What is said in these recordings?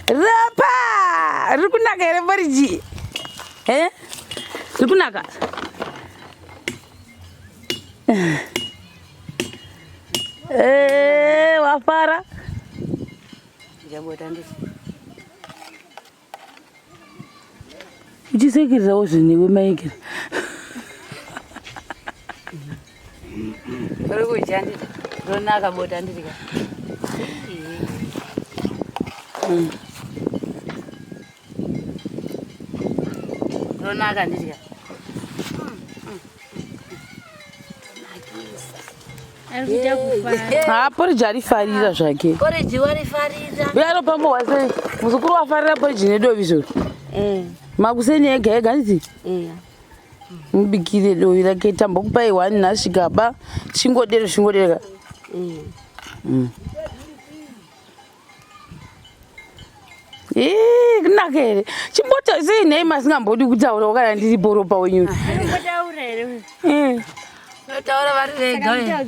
Rapa! Riri kunaka here poriji? Eh? Riri kunaka? Eh, wafara? Jambo tandisi. uchisekererawo zvinhu newe maigere uri kudya ndida ronaka bota ndirika mm. ronaka ndidya haa poriji arifarira zvake uyaro pambo wasei muzukuru wafarira poriji nedovi zvoro eh. makuseni ega ega nditi eh. mubikire dovi rake tambokupai one nasvika ba chingodero chingodereka eh. mm. Hii, kunaka here chimbota sei nhai masingambodi kutaura wakana ndiri boropa wenyu taura vari vega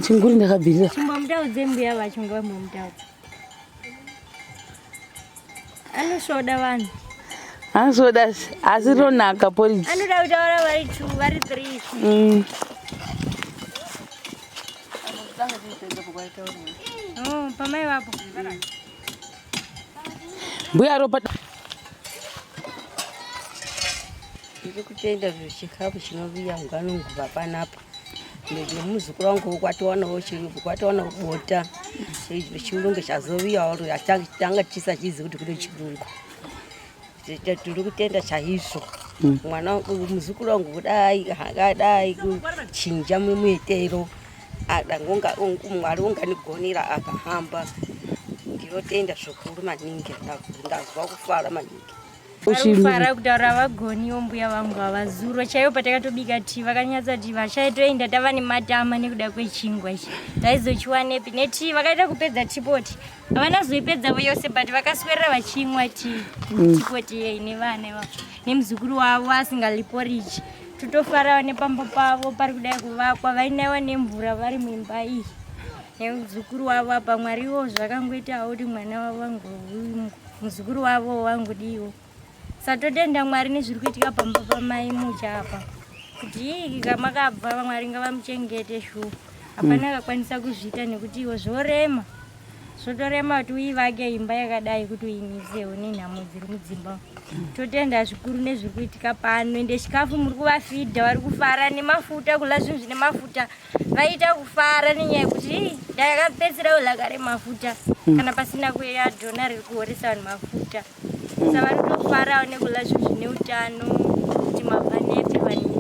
chinguri ndakabvirira anosvoda vanhu anosvoda asi ronaka poriji anoda kutaura vari two vari three mm. oh, pamai vapo mbuya ropa ndiri kutenda zvechikafu chinoviya ngano nguva panapa nemuzukuru wangu kwatowana chirungu kwatowana bota chirungu chazoviyawo tanga tisachizi kuti kune chirungu tiri kutenda chaizvo mm. mwana muzukuru wangu kudai akadai kuchinja mumuitero adangonga mwari unganigonera akahamba ndinotenda zvikuru maningi ndazwa kufara maningi uchifara kutaura vagoniwo mbuya vangu havazuro chaivo patakatobika ti vakanyatsa ti vachaitoenda tava nematama nekuda kwechingwa ichi taizochiwanepi neti vakaita kupedza tipoti havana zoipedzavo yose but vakaswerera vachinwa ti mm. tipoti yei nevana ivavo nemuzukuru wavo asingaliporiji totofarawo nepamba pavo pari kudai kuvakwa vainaiwa nemvura vari muimba iyi nemuzukuru wavo apa mwariwo zvakangoitawo kuti mwana wavo angohumwa muzukuru wavo wangu diwo satotenda mwari nezviri kuitika pamba pamai mucha apa kuti kamakabva vamwari ngavamuchengete shuwa hapana mm. akakwanisa kuzviita nekuti iwo zvorema zvotorema kuti uivake imba yakadai kuti uimisewo nenhamo dziri mudzimba totenda zvikuru nezviri kuitika pano ende chikafu muri kuvafidha vari kufara nemafuta kula zvinhu zvine mafuta vaita kufara nenyaya yekuti ndakapedzera ulaka remafuta hmm. kana pasina kuya dhona riri kuhoresa vanhu mafuta hmm. sa vari kutofarawo nekula zvinhu zvine utano kuti mabva nepi vanini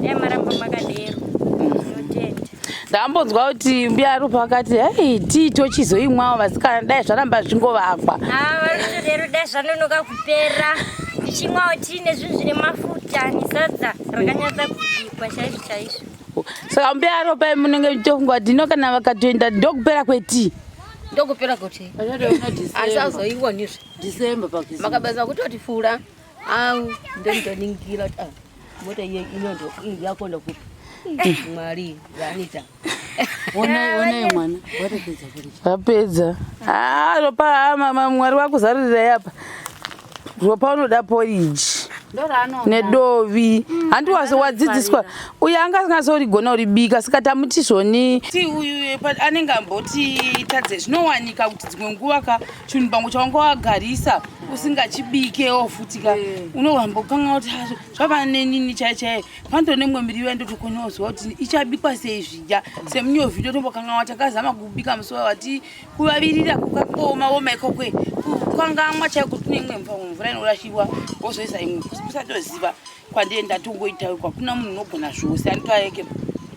dai maramba makadero zinotenda ndambonzwa kuti mbuya rupa vakati hei tii tochizoimwawo vasikana dai zvaramba zvingovakwa ah, varikutodero dai zvanonoka kupera tichimwawo tiine zvinhu zvine mafuta nesadza rakanyatsa kubikwa chaizvo chaizvo saka mbearo pai munenge muchitonga kuti ino kana vakatoenda ndokupera kwetii ndokupera kuti asi auzoionizve december makabaza kutoti fura au ndomutoningira kuti ah, mota iye inondo yakonda kupi mwari vanita vapedza ah, ropa ah, mama mwari vakuzarurirai apa ropa unoda poriji nedovi mm, handi wase wadzidziswa uyo anga asingasorigona uribika saka tamuti zvoni ti uyu eh, anenge amboti tadze zvinowanika kuti dzimwe nguva ka chinhu pangu chawanga wagarisa usingachibikewo futi ka eh. unohambokanga kuti zvava nenini chaichaiye Panto nemwe miriwo yandotokonyodzwa kuti ichabikwa sei zvidya semunyovi totombokanganwa takazama kubika musi wavati kuvavirira kukakoma woma ikokwe kukangamwa chaiko tine imwe mvamwe mvura inorashirwa wozoisa imwe kusatoziva kwandiye ndatongoitawo kwakuna munhu unogona zvose anitoayeke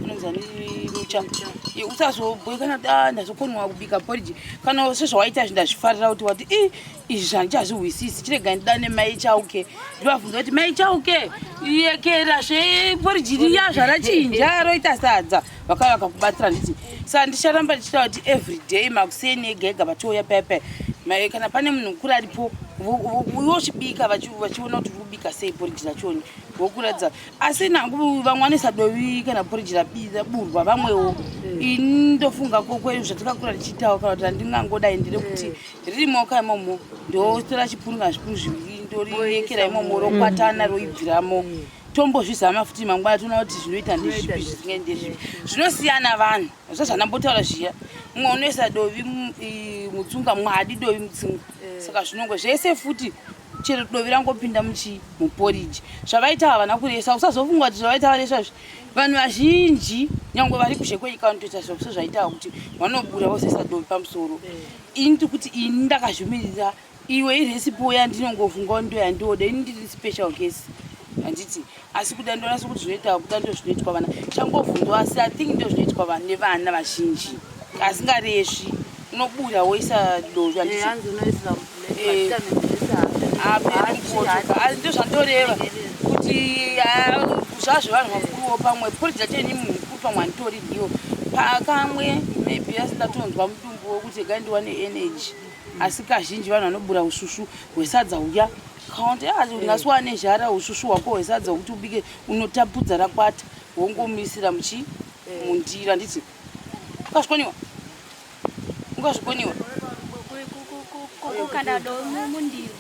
unonzani mucha usazobhoikana kuti ah, ndazokonwa kubika poriji kana sezvawaita zvi ndazvifarira kuti wati i izvi handichazvihwisisi chiregai ndidane mai chauke ndivabvunza kuti mai chauke yekera zveporijiriya zvarachinja roita sadza vakauya vakakubatsira nditi sa ndicharamba ndichita kuti everyday makuseni ega ega vachouya pepe mai kana pane munhu mukuru aripo vochibika vachiona kuti vobika sei poriji rachoni vokuratidza asi nangu vamwe vanesa dovi kana poriji rabira burwa vamwewo mm. ini ndofunga kokwe zvatakakura tichiitawo kana kuti handingangodai ndiri kuti mm. riri maoko imomo ndotora chipunu kana zvipunu zviviri ndoriekera imomo rokwatana roibviramo tombozvizama futi mangwana toona kuti zvinoita ndezvipi zvisingai ndezvipi zvinosiyana vanhu zva zvandambotaura zviya mumwe unoisa dovi mutsunga mumwe adi dovi mutsunga eh. saka zvinongo zvese futi chero dovi rangopinda muchi muporiji zvavaita havana kuresa usazofunga kuti zvavaita varesa zvi vanhu vazhinji nyange vari kuzhe kwenyika vanotoita zvakuso zvaitawa kuti vanobura vozesa dovi pamusoro eh. ini tiri kuti ini ndakazvimirira iwe iresipo yandinongofungawo ndo yandioda ini ndiri special case handiti asi kuda ndoona sokuti zvinoitawa kuda ndo zvinoitwa vana changobvunzwa asi i think ndo zvinoitwa vanhu nevana vazhinji asingaresvi unobuda woisa dozvi ndo zvandoreva kuti zvazvo vanhu vakuruwo pamwe pori dzato ini mukuru pamwe anditori ndiwo pakamwe maybe asi ndatonzwa mudu wekuti regai ndiwane energy asi kazhinji vanhu vanobura usvusvu hwesadza huya kaunti yaati ungasi wane zhara usvusvu hwako hwesadza hwekuti ubike unotapudza rakwata wongomisira muchi mundira nditi ukazvikoniwa ukazvikoniwa kukanda do mundiro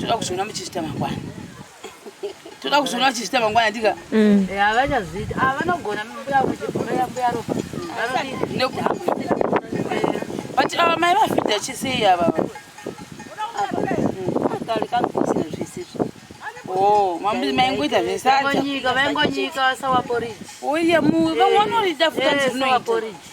toda kuzviona muchizvita mangwana toda kuzviona muchizvita mangwana ndika mm. eh, havachazviita ah, vanogona mbuya ropa but ava mai vafidha chisei ava maingoita zvesaoye vamwe vanoridafutazvinoita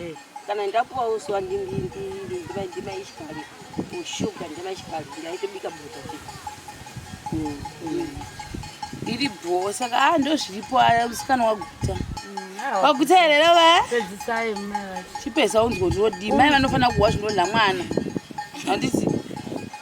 Eh, kana ndapuwa uswa ndimaishikari ushuga ndimaishikari ndaitobika bota mm, mm. iri bho saka a ah, ndo zviripo aya musikana waguta mm, ah, waguta here rova chipesa unzwa kuti wodii mai vanofanira kuwa zvinodla mwana handiti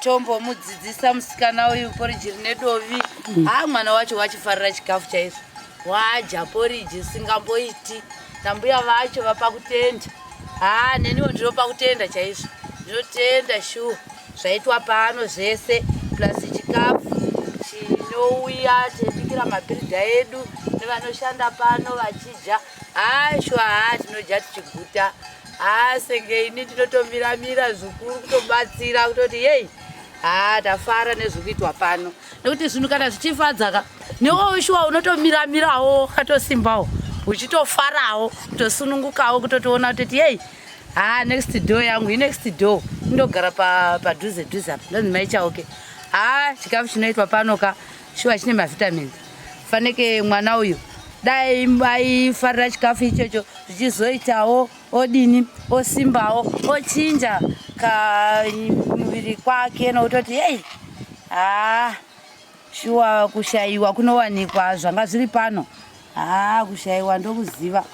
tombomudzidzisa musikana uyu poriji rine dovi mm. haa mwana wacho wachifarira chikafu chaizvo wadya poriji singamboiti nambuya vacho vapa kutenda haa neniwo ndinopa kutenda chaizvo ndinotenda shuwa zvaitwa pano zvese plus chikafu chinouya tibikira mabirida edu nevanoshanda pano vachidya Asho haa tinoja tichiguta haa senge ini ndinotomira mira zvikuru kutobatsira kutoti yei haa tafara nezviri kuitwa pano nekuti zvinhu kana zvichifadzaka newewo shuwa unotomira mirawo ukatosimbawo uchitofarawo kutosunungukawo kutotiona kutoti yei haa next door yangu inext door indogara padhuze dhuze apa ndonzi maichauke haa chikafu chinoitwa pano ka shuwa chine mavitamins fanike mwana uyu dai aifarira chikafu ichocho zvichizoitawo odini osimbawo ochinja kamuviri kwake nokutoti hei haa shuwa kushayiwa kunowanikwa zvanga zviri pano haa kushayiwa ndokuziva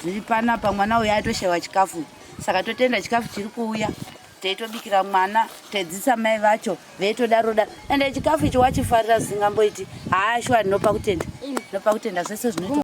zviri panapa mwana uyu atoshayiwa chikafu saka totenda chikafu chiri kuuya teitobikira mwana tedzisa mai vacho veitodaro da ende chikafu icho wachifarira zvisingamboiti haa shuwa ndinopa kutenda ndinopa kutenda zvese zvinoita